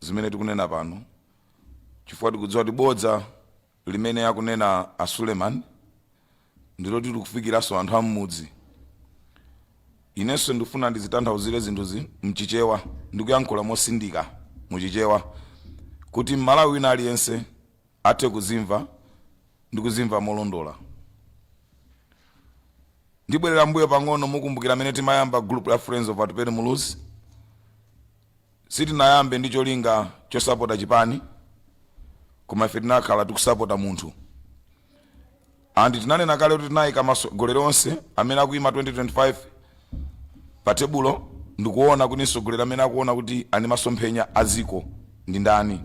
zimene tikunena pano chifukwa tikudziwa kuti bodza limene akunena a Suleman ndiloti likufikiranso anthu am'mudzi. Inenso ndikufuna ndizitanthauzire zinthuzi m'Chichewa ndi kuyankhula mosindika mu Chichewa kuti Mmalawi wina aliyense athe kuzimva ndi kuzimva molondola. Ndibwerera m'mbuyo pang'ono mukumbukira amene timayamba group la Friends of Atupele Muluzi? Sitinayambe ndi cholinga chosapota chipani koma ife tinakhala tikusapota munthu and tinanena kale kuti tinayika masogoleri onse amene akuyima 2025 pa tebulo ndikuona kuti msogoleri amene akuona kuti ali masomphenya a dziko ndi ndani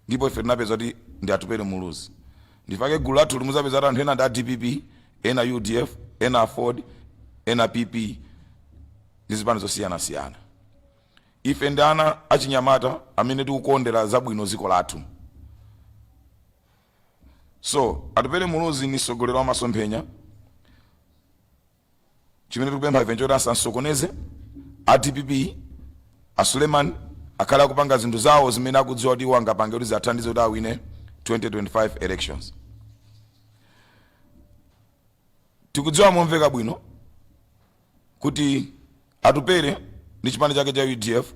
ndipo ife tinapeza kuti ndi Atupele Muluzi ndipake gulu lathu limuzapeza kuti anthu ena ndi a DPP ena UDF ena aford ena PP ndi zipani zosiyanasiyana Ife ndi ana achinyamata amene tikukondera zabwino dziko lathu. So, Atupele Muluzi ni msogoleri wa masomphenya. Chimene tikupempha ife nchoti asamsokoneze a dpp a Suleman akhale akupanga zinthu zawo zimene akudziwa kuti iwo angapange kuti ziathandize kuti awine 2025 elections. Tikudziwa momveka bwino kuti Atupele ndi chipani chake cha udf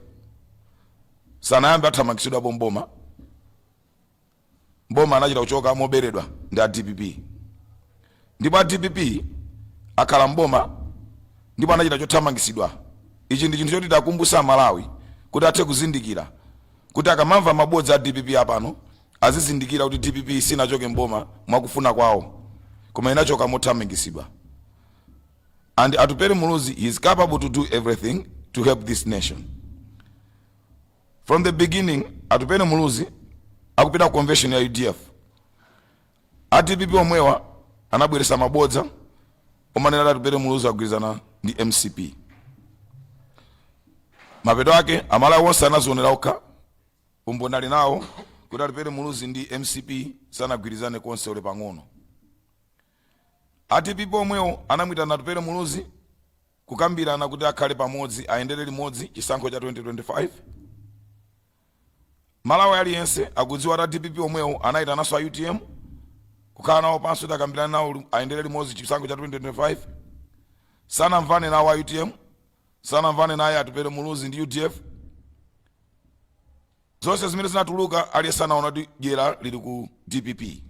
sanayambe athamangitsidwapo mboma mboma anachita kuchoka moberedwa ndi a dpp ndipo a dpp akhala mboma ndipo anachita chothamangitsidwa ichi ndi chinthu choti tiwakumbutsa amalawi kuti athe kuzindikira kuti akamamva mabodza a dpp apano azizindikira kuti dpp sinachoke mboma mwakufuna kwawo koma inachoka mothamangitsidwa and Atupele Muluzi he is capable to do everything to help this nation. From the beginning, Atupele Muluzi akupita ku convention ya UDF. A DPP omwewa anabweretsa mabodza omanena kuti Atupele Muluzi agwirizana ndi MCP. Mapeto ake Amalawi onse anazionera okha umboni ali nawo kuti Atupele Muluzi ndi MCP sanagwirizane konse olo pang'ono. A dpp omwewo anamuitana Atupele Muluzi kukambirana kuti akhale pamodzi ayendere limodzi chisankho cha 2025. Malawi aliyense akudziwa kuti a dpp omwewo anaitananso a utm kukhala nawo pansi kuti akambirane nawo li- ayendere limodzi chisankho cha 2025. Sanamvane nawo a utm, sanamvane naye Atupele Muluzi ndi udf. Zonse zimene zinatuluka aliyense anaona kuti dyera lili ku dpp.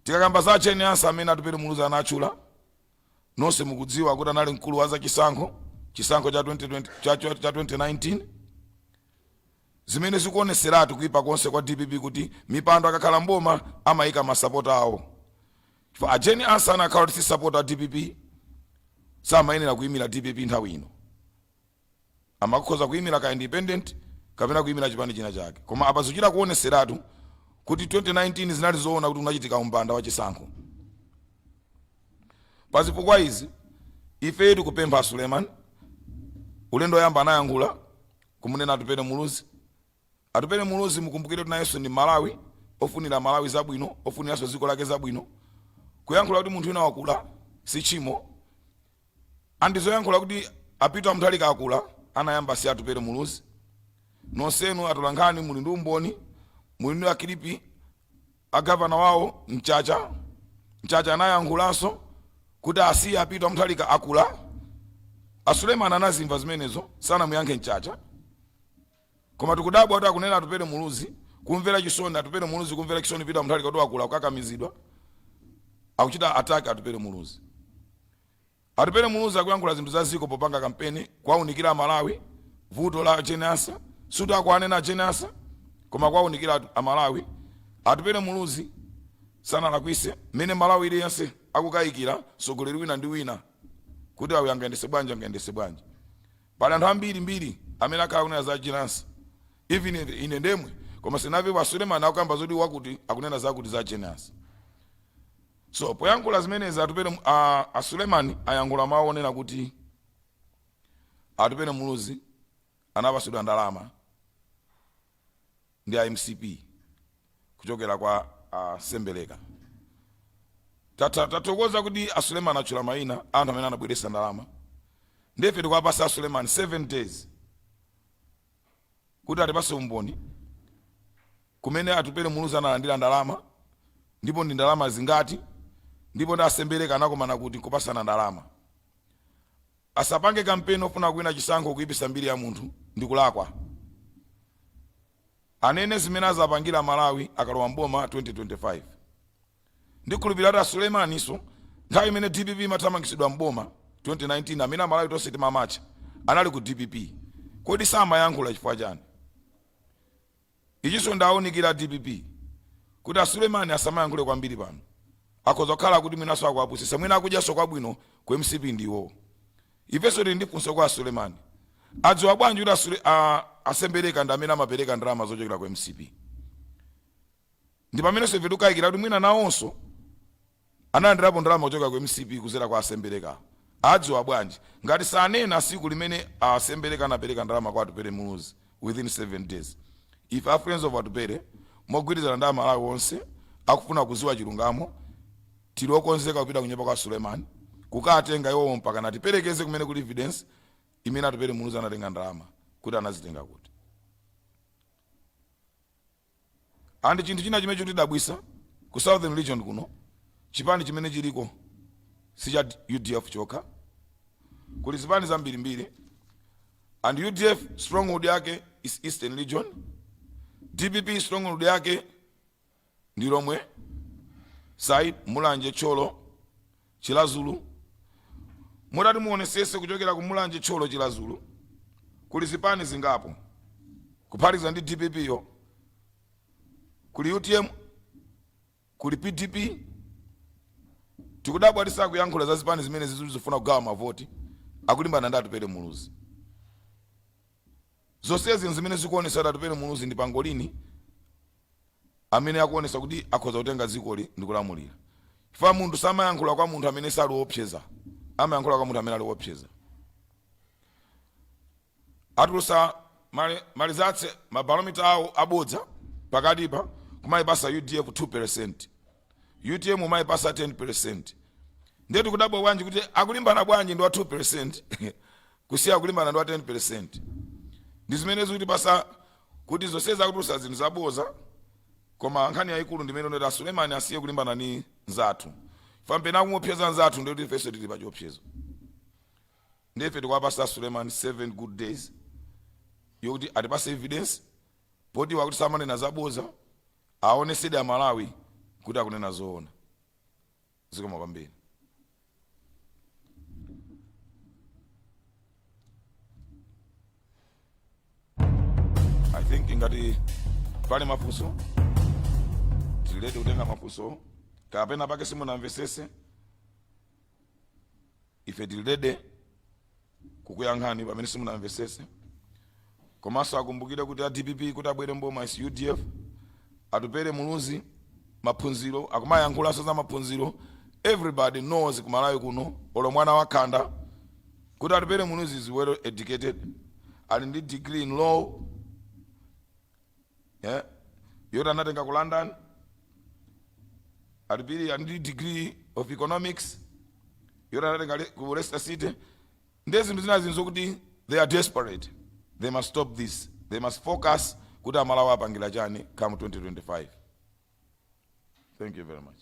Tikakamba za a Jane Ansah amene Atupele Muluzi anatchula, nonse mukudziwa kuti anali mkulu wa zachisankho, chisankho cha 2020 cha- cha- cha 2019 zimene zikuoneseratu kuipa konse kwa dpp kuti mipando akakhala mboma amayika masapota awo chifukwa a Jane Ansah anakhala kuti si sapota a dpp samayenera kuyimira dpp nthawi ino amakhoza kuyimira ka independent kapena kuyimira chipani china chake koma apa zikuchita kuoneseratu kuti 2019 zinali zoona kuti unachitika umbanda wa chisankho pa zifukwa izi ifeyo tikupempha suleiman ulendo woyamba anayankhula kumunena atupele muluzi Atupele Muluzi mukumbukire kuti nayenso ndi Mmalawi ofunira Amalawi zabwino, ofuniranso dziko lake zabwino. Kuyankhula kuti munthu wina wakula si tchimo and zoyankhula kuti a Peter Mutharika akula anayamba si Atupele Muluzi. Nonsenu atolankhani muli ndi umboni, muli ndi makilipi a Governor wawo Mchacha, Mchacha anayankhulanso kuti asiye a Peter Mutharika akula. A Suleiman anazimva zimenezo, sanamuyankhe Mchacha. Koma tikudabwa kuti akunena Atupele Muluzi kumvera chisoni Atupele Muluzi kumvera chisoni Peter Mutharika kuti wakula kukakamizidwa akuchita attack Atupele Muluzi. Atupele Muluzi akuyankhula zinthu za dziko popanga kampeni kuwaunikira Amalawi vuto la Jane Ansah sikuti akuwanena Jane Ansah koma kuwaunikira atu- Amalawi. Atupele Muluzi sanalakwise mmene Mmalawi aliyense akukayikira mtsogoleri wina ndi wina kuti awa angayendese bwanji angayendese bwanji. Pali anthu ambiri mbiri amene akhala akunena za Jane Ansah even ine ndemwe koma sinamvepo a Suleman akukamba zoti wakuti akunena zakuti za Jane Ansah so poyankhula zimenezi Atupele a a Suleman ayankhula mawu onena kuti Atupele Muluzi anapasidwa ndalama ndi a mcp kuchokera kwa a sembeleka Tatha- tathokoza kuti a suleman atchula maina anthu amene anabweresa ndalama nde ife tikuwapasa a suleman 7 days kuti atipase umboni kumene atupele muluzi analandira ndalama ndipo ndi ndalama zingati ndipo ndi asembeleka anakomana kuti kupasana ndalama Asapange kampeni ofuna kuwina chisankho kuipisa mbiri ya munthu ndikulakwa. Anene zimene azapangira amalawi akalowa m'boma 2025. Ndikhulupilira kuti a Suleimanso nthawi imene dpp imathamangitsidwa m'boma 2019 amene amalawi tonse timamatcha anali ku dpp. Kodi samayankhula chifukwa chani? Ichiso ndaunikira a dpp kuti a Suleman asamayankhule kwambiri pano. Akhoza kukhala kuti mwinaso akuwapusisa mwina akudyaso kwabwino ku mcp ndi iwowo. Ifeso tili ndi funso kwa a Suleman. Adziwa bwanji kuti a Sule a a Sembereka ndi amene amapereka ndalama zochokera ku mcp? Ndipameneso ife tikukayikira kuti mwina nawonso. analandilapo ndalama kuchokera ku mcp kuzera kwa asembeleka adziwa bwanji ngati sanena siku limene a sembeleka anapeleka ndalama kwa atupele muluzi within 7 days ife a friends of atupele mogwirizana ndi amalawi onse akufuna kuziwa chilungamo tili okonzeka kupita kunyumba kwa suleman kukatenga iwowo mpaka natipelekeze kumene kuli evidence imene atupele muluzi anatenga ndalama kuti anazitengadi kuti And chinthu china chimene chikutidabwisa ku southern region kuno chipani chimene chiliko si cha udf chokha kuli zipani zambiri mbiri and udf stronghold yake is eastern region dpp stronghold yake ndi lomwe side mulanje thyolo Chiladzulu Mutati muonesese kuchokera ku Mulanje Thyolo Chiladzulu kuli zipani zingapo kuphatikiza ndi dpp yo kuli utm kuli pdp tikudabwa kuti sakuyankhula za zipani zimenezi zili zofuna kugawa mavoti akulimbana ndi Atupele Muluzi zonsezi nzimene zikuonesa kuti Atupele Muluzi ndi pangolini amene akuonetsa kuti akhoza kutenga dzikoli ndi kulamulira. Chifukwa munthu samayankhula kwa munthu amene sali oopseza, amayankhula kwa munthu amene ali oopseza. Atulutsa ma results ma barometer awo abodza pakatipa kumaipasa udf 2%, utm umaipasa 10%. Ndiye tikudabwa bwanji kuti akulimbana bwanji ndi wa 2%. Kusiya kulimbana ndi wa 10% ndi zimene zikutipasa kuti zonsezi akutulusa zinthu zaboza koma nkhani yayikulu ndi imene ili yoti a Suleman asiye kulimbana ndi nzathu chifukwa pamene akumuopseza nzathu ndikuti ifenso tili pa chiopsezo ndi ife tikuwapasa a Suleman 7 good days yokuti atipase evidence poti wakuti samanena zaboza aonesede a Malawi kuti akunena zoona. zikomo kwambiri i think ngati pali mafunso tili ready kutenga mafunso kapena penapake simunamvesese ife tili ready kukuyankhani pamene simunamvesese komanso akumbukire kuti a dpp kuti abwere mboma is udf atupele muluzi maphunziro akumayankhulanso za maphunziro everybody knows kumalawi kuno olo mwana wakhanda kuti atupele muluzi is well educated ali ndi degree in law eh? yoti anatenga ku london ali Phiri ali ndi degree of economics yoti anatenga le- ku leicester city ndi zinthu zina zinazo kuti they are desperate they must stop this they must focus kuti amalawi awapangira chani come 2025 thank you very much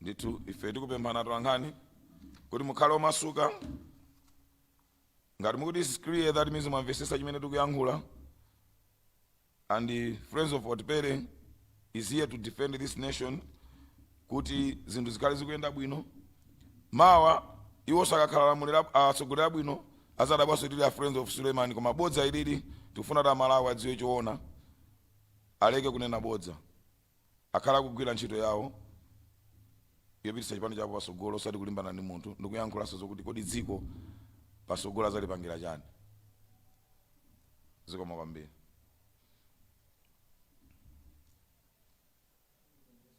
ndithu ife tikupemphana tolankhani kuti mukhale omasuka ngati mukuti is clear that means mwamvesesa chimene tikuyankhula and the friends of otpere is here to defend this nation kuti zinthu zikhale zikuyenda bwino mawa iwo sakakhala lamulira atsogolera bwino azadabwanso tili a friends of suleiman koma bodza ilili tikufuna kuti amalawi adziwe choona aleke kunena bodza akhale akugwila ntchito yawo yopititsa chipani chawo pasogolo osati kulimbana ndi munthu ndikuyankhula za zokuti kodi dziko pasogolo azalipangila chani zikomo kwambiri.